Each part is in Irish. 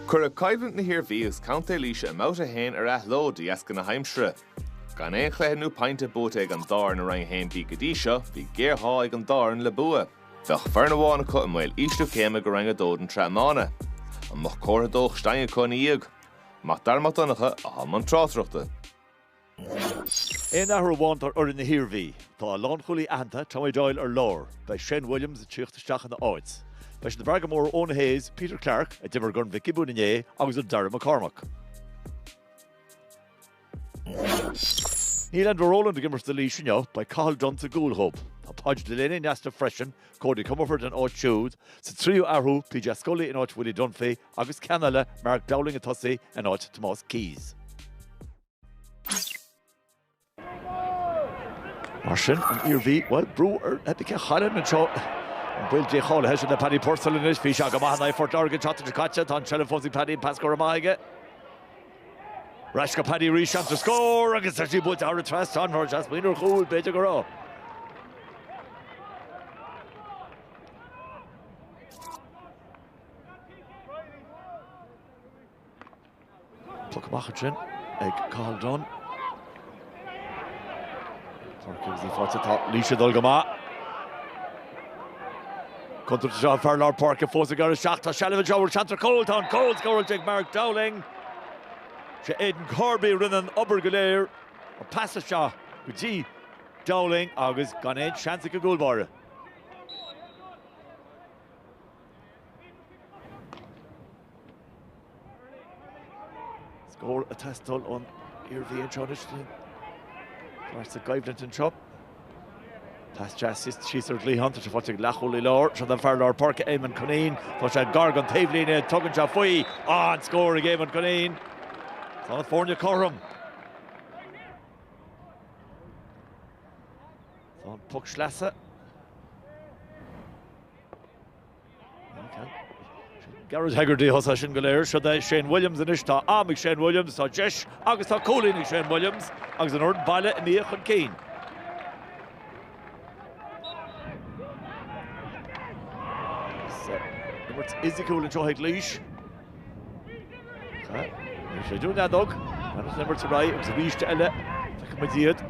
Cuireadh coimhlint na hIarmhí agus Contae Laoise i mBabhta 1 ar athló de dheasca na haimsire. Gan aon chluiche nó pointe buaite ag an dá fhoireann i Roinn 1B go dtí seo, bhí géarghá ag an dá fhoireann le bua. Bheadh foireann amháin acu i mbaol ísliú céime go Roinn 2 an tráthnóna. An mbeadh comhartha dóchais d'éinne acu ina dhiaidh? Mac Dara Mac Donncha atá i mbun tráchtaireachta. Aon athrú amháin ar fhoireann na hIarmhí. Tá a lánchúlaí aitheanta, Tommy Doyle ar lár. Beidh Shane Williams ag tíocht isteach ina áit. Beidh siad ag brath go mór ar Eoin Keyes, Peter Clarke, a d'imir i gCorn Mhic Giobúin inné, agus ar Darragh McCormack. Níl Enda Rowland ag imirt do Laois inniu, beidh Cathal Dunne sa gcúl dóibh. Tá Podge Delaney in easnamh freisin, Cody Comerford in áit siúd. Sa tríú athrú, PJ Scully in áit Willie Dunphy agus ceann eile, Mark Dowling ag tosaí in áit Tomás Keyes. Mar sin, an Iarmhí, bhuel, brú ar Epica Chairn anseo. An baol Dé cháilithe sin le Paddy Purcell anois. Bhí sé go maith in aghaidh Phort Láirge an tseachtain seo caite. Tá an tseilbh fós ag Paddy, an pas go raibh maith aige. Ar ais go Paddy arís, seans do scór agus tá sí buailte thar an trasnán. Mhuiris as muinir chúil, b'fhéidir go raibh. Puc amach ansin ag Cathal Dunne. Páirc Kingsley fáilte. Tá Laois ag dul go maith. Contúirt anseo, an fear lár páirce fós ag éirí isteach. Tá seilbh anseo an bhfuil seans ar chúl. Tá an cúl scóráilte ag Mark Dowling. Sé Aidan Corby a rinne an obair go léir. An pas isteach go dtí Dowling agus gan aon seans ag an gcúlbáire. Scór ag teastáil ón Iarmhí anseo anois. Tá sa gcoimhlint anseo. Pas deas síos ar an gcliathán, tá sé fáilte ag leathchúlaí láir, seod é an fear lár páirce, Éamonn Cunneen. Tá sé gar don taobhlíne, tugann sé faoi. An scór ag Éamonn Cunneen. Tá na foirne cothrom. Tá an puc sleasa. Garret Hegarty a thosaigh sin go léir. Seod é Shane Williams anois. Tá am ag Shane Williams, tá deis agus tá cúilín ag Shane Williams agus an fhoireann baile imithe chun cinn. Is imirt fhisiciúil anseo ag Laois. Níor séideadh an fheadóg. An imirt ar aghaidh agus arís eile. Feicimid iad.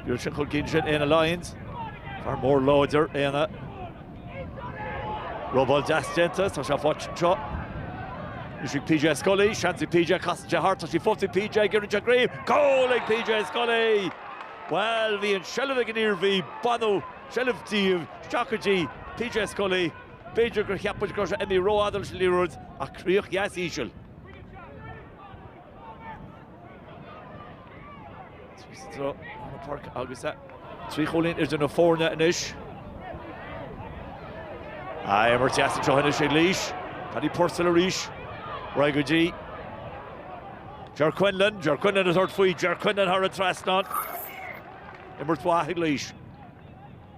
B'iad sin chun cinn sin Éanna Lyons. Fear mór láidir Éanna. Rómhall deas déanta. Tá sé fáilte anseo. Bhí sí ag PJ Scully. Seans ag PJ casann sé thart. Tá sí fós ag PJ. Ag iarraidh an chraobh. Goal ag PJ Scully! Bhuel, bhí an seilbh ag an Iarmhí. Baineadh seilbh díobh. Isteach go dtí PJ Scully. B'fhéidir gur cheap muid gur imigh ró-fhada sa liathróid ach críoch dheas íseal. Trí scór ar an pháirc agus é trí chúilín idir na foirne anois. Imirt dheas anseo anois ag Laois. Paddy Purcell arís. Ar aghaidh go dtí Ger Quinlan. Ger Quinlan ag tabhairt faoi. Ger Quinlan thar an trasnán. Imirt mhaith ag Laois.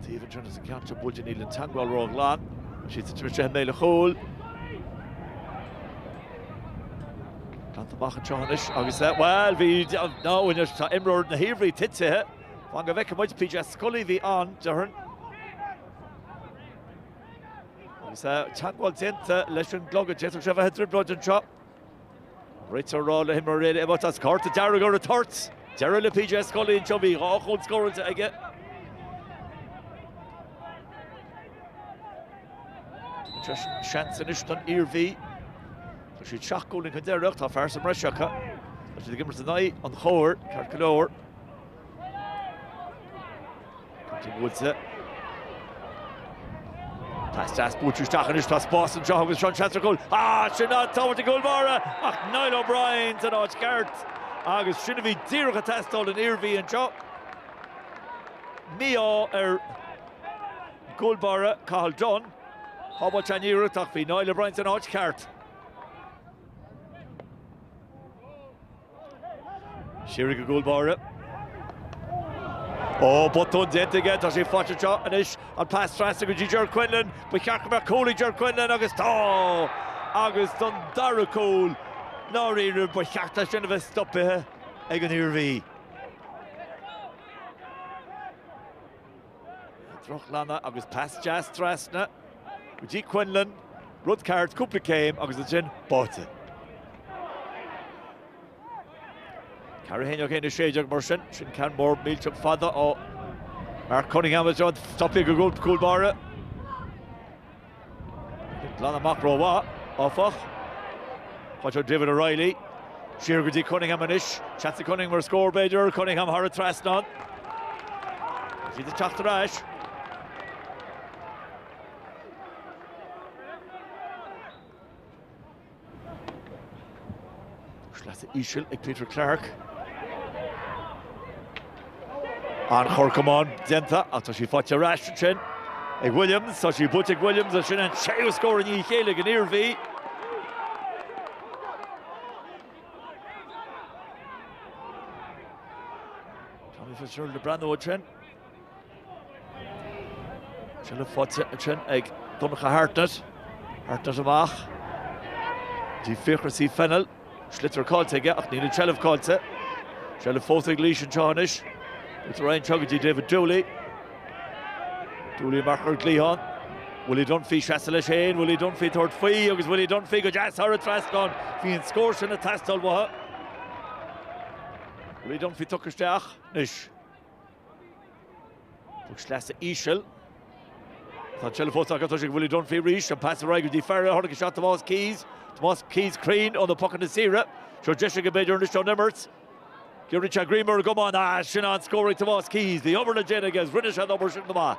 Taobh an tearnas an ceantar buail de níl an teangmháil ró ghlan. Siad sa tine tréithe méile chúil. Glanta amach anseo anois agus é bhuel bhí ná uainear tá imreoir na hIarmhí titithe. Fan go bhfeice muid PJ Scully bhí ann dearn. Agus é teangmháil déanta leis an gclogad d'fhéadfadh sé bheith i dtrioblóid anseo. Rite á rá le himreoir eile imeacht as,, cárta dearg ar an toirt! Deireadh le PJ Scully anseo, bhí dhá chúl scóráilte aige. Seans anois don Iarmhí. Tá siad seacht gcúilín chun deiridh, tá fear sa mbreis acu. Tá siad ag imirt in aghaidh an chóir, ceart go leor. Cúirt an Mhúinte. Teastas buaite isteach anois, tá spás anseo agus seo seans ar chúl. Ah, sin an tsábháil ag an gcúl báire ach Niall O'Brien san áit cheart agus sin a bhí díreach ag teastáil ón Iarmhí anseo. Mí-ádh ar an gcúl báire, Cathal Dunne, sábháilte an iarracht ach bhí Niall O'Brien san áit cheart. Siar ag an gcúl báire. Ó botún déanta aige, tá sé fágtha anseo anois an pas trasna go dtí Ger Quinlan, ba cheart go mbeadh cúl ag Ger Quinlan agus tá! Agus don dara cúl, dáiríre ba cheart dó sin a bheith stopithe ag an Iarmhí. Drochghlanadh agus pas deas trasna go dtí Quinlan, rud ceart, cúpla céim agus ansin buaite. 4-1 1 16 mar sin, sin ceann mór millteach fada ó Mark Cunningham, is é stopithe ag an gcúl báire. Ag glanadh amach rómhaith, áfach. Faighte ag David O'Reilly siar go dtí Cunningham anois. Seans ag Cunningham ar scór, b'fhéidir. Cunningham thar an trasnán. Is iad ag teacht ar ais. Pas íseal ag Peter Clarke. An corr camáin déanta ach tá sí faighte ar ais ansin ag Williams. Tá sí buailte ag Williams agus sin an séú scór i ndiaidh a chéile ag an Iarmhí. Tommy Fitzgerald le breathnú ansin. Tuilleadh faighte ansin ag Donncha Hartnett. Hartnett amach. Dtí Fiachra C Fennell. Sliotar caillte aige ach níl an tseilbh caillte. Seilbh fós ag Laois anseo anois. Trasna leo go dtí David Dooley. Dooley amach ar an gcliathán. Willie Dunphy ag seasamh leis féin. Willie Dunphy ag tabhairt faoi agus Willie Dunphy go deas thar an trasnán. Bhí an scór sin ag teastáil uathu. Willie Dunphy tugtha isteach anois. Bheadh sleasa íseal. Tá tuilleadh fós acu, tá siad ag bualadh Dunphy arís, an pas ar aghaidh go dtí Farrell, tháinig isteach Tomás Keys, Tomás Keys cruinn ó na pocanna saora, seo deis aige b'fhéidir anois ón imirt. Giorraíonn sé greim ar an gcamán, ah, sin an-scór ag Tomás Keys, bhí obair le déanamh aige agus rinne sé an obair sin go maith.